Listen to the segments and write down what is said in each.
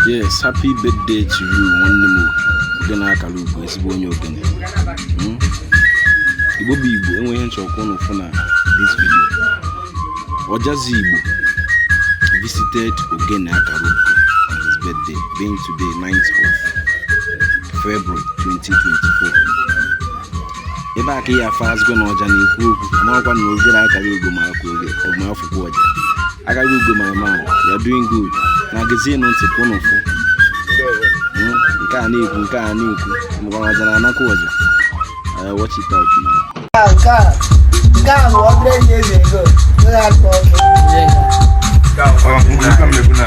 yes happy birthday to you nwanne m ogene akara ugo ezigbo onye ogene hmm? igbo bụ igbo enwe ihe m chọ ka ụnụ fụ na this video ọjazi igbo visited ogene akara ugo on his birthday being today 9th of February 2024 ebe a ka ị ya afụzigo na ọja na-ekwu okwu marakwa na ogene akara ugo ma akụ ogene ma afụkwa ọja akara ugo my man you're doing good na gezienụ ntị ka ụnụ fụ Mm, nke a na-ekwu nke a na-ekwu mgbe ọja na anakwa ọja Eh, watch it out now. Nke a nke a nke a bụ ọbụla enyi eze ego. Onye akpa ọkụ. Ka m na-ekwu na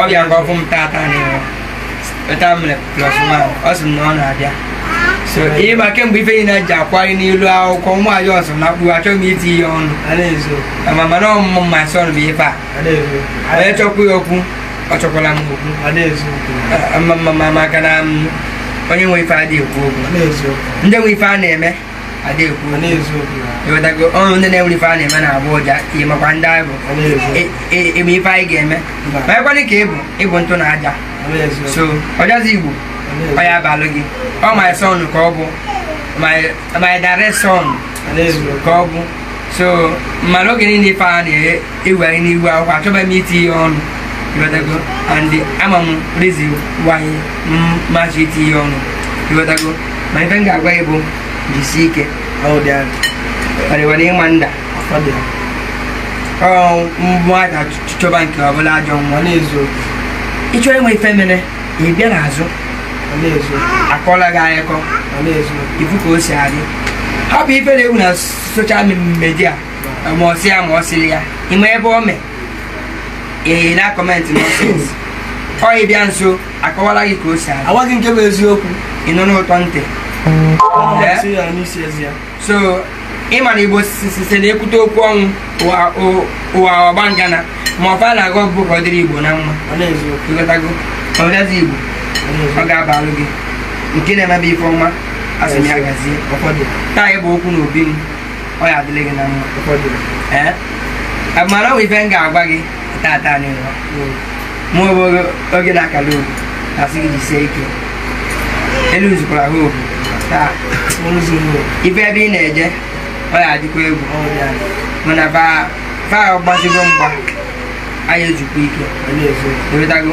ọ bịa ka ọ fụ m tata n'ihu weta m mere plus one ọ sị m na ọ na-abịa so ihe ma kemgbe ife niile ji akwari n'ihu akwụkwọ nwa ya ọsọ na akpụ achọghị m itinye ọnụ ma mana ọmụmụ ma sọ bụ ife a onye chọkwu ya okwu ọ chọkwala m okwu maka na onye nwe ife adịghị ekwu okwu ndị nwe ife a na-eme ewetago ọnụ ndị na-enwerọ ife a na-eme na-agbọ ụja ị makwa ndị anyị bụ e, e, eme ife anyị ga-eme ma ekwenị ka ịbụ ịbụ ntụ na aja so ọjazi igbo ọ ya abalụ gị ọ my son ka ọ bụ my direct son ka ọ bụ so mmadụ oge niile ife a na-eye iwe anyị n'ihu akwụkwọ achọghị m itinye ọnụ ị wotago and ama m reason why m achọghị itinye ọnụ ị wotago ma ife m ga-agwa gị bụ jisi ike ọ dịwara gị mma ndị mmadụ achọba nke ọbụla ajọ mmụọ na-ezu ịchọrọ ịma ife mere ị bịa n'azụ akọọlụ gị akụkọ ife ka o si adị hapụ ife na-ewu na social media ma ọ sị ya ma ọ sịrị ya ịma ebe o mee ee na comment nonsense ọ ị bịa nso akọwalụ gị ka o si adị agwa gị nke bụ eziokwu ị nọ n'ụtọ ntị Ee? Sị ya n'isi ezi ya. so ịma na igbo sise na ekwute okwu ọnwụ ụwa- ụ- ụwa ọgba ngana ma ọ fa na-agọ bụ ka ọ dịrị igbo na mma Ọ na-eziokwu. ịghọtago ọjazi igbo Ọ na-eziokwu. ọ ga-abalụ gị nke na-emebe ife ọma asị m ya gazie ụfọdụ taa ịbụ okwu na obi m ọ ya adịlị gị na mma ụfọdụ ee mana ọ ife m ga-agwa gị tata anyị nọ mụ ogbu ogene akala ugo asị gị jisie ike elu nzukwara ha obi taa ife ebe ị na-eje ọ ya adịkwa egwu mana fa ọgbazigo mgba anyị ejikwa ike ị wotago